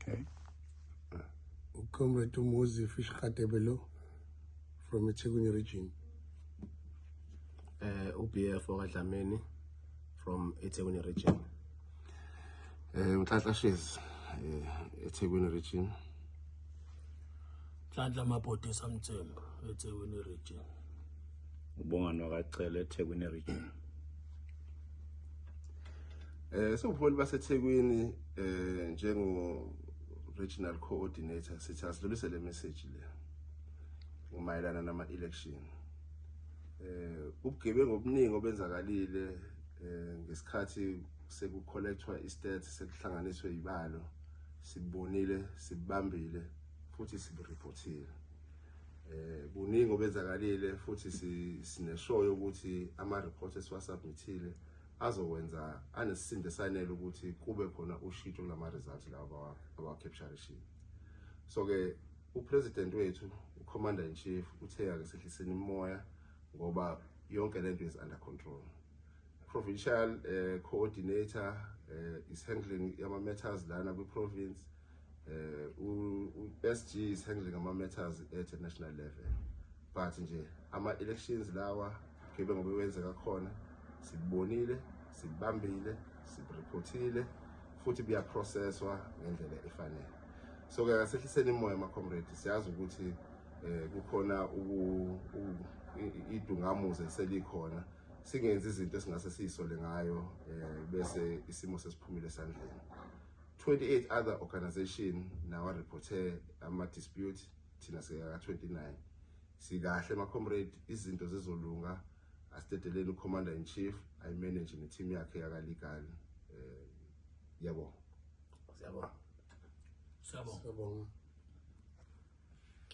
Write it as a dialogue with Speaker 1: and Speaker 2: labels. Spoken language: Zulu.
Speaker 1: Okay. Ucomrade Umuzi Fish Khatebelo from eThekwini region. Eh
Speaker 2: uh, uBF wakadlameni from eThekwini region. Eh uh, uNhlanhla
Speaker 3: Shezi eh uh, eThekwini region.
Speaker 4: Nhlanhla Mabhodi eSamthembu eThekwini region.
Speaker 5: Ubongani wakacela eThekwini region.
Speaker 3: Eh sobuholi baseThekwini eh njengo regional coordinator sithi asidlulise le message le. Umayelana nama election. Eh ubugebengu obuningi obenzakalile eh ngesikhathi sekucollectwa istats sekuhlanganiswe ibalo sibonile sibambile futhi sibureportile eh buningi obenzakalile futhi sineshoyo ukuthi ama report esiwasubmithile azokwenza anesisindo esanele ukuthi kube khona ushito kulama results lawa awa capture sheet so ke upresident wethu ucommander in chief uthe ake sehliseni imoya ngoba yonke lento is under control provincial uh, coordinator uh, is handling yama matters lana kwi province eh uSG is handling ama matters at a national level but nje ama elections lawa kebe ngobe wenzeka khona sibonile sibambile sireportile futhi buya processwa ngendlela efanele so ke asehliseni imoya ama comrades siyazi ukuthi eh kukhona uku idungamuze selikhona singenzi izinto esingase siyisole ngayo eh bese isimo sesiphumile esandleni 28 other organization nawa reporte ama dispute thina siyaka 29 sikahle ma comrade izinto zizolunga astedeleni ucommander in chief i manage ne team yakhe yaka legal eh yabo siyabonga
Speaker 4: siyabonga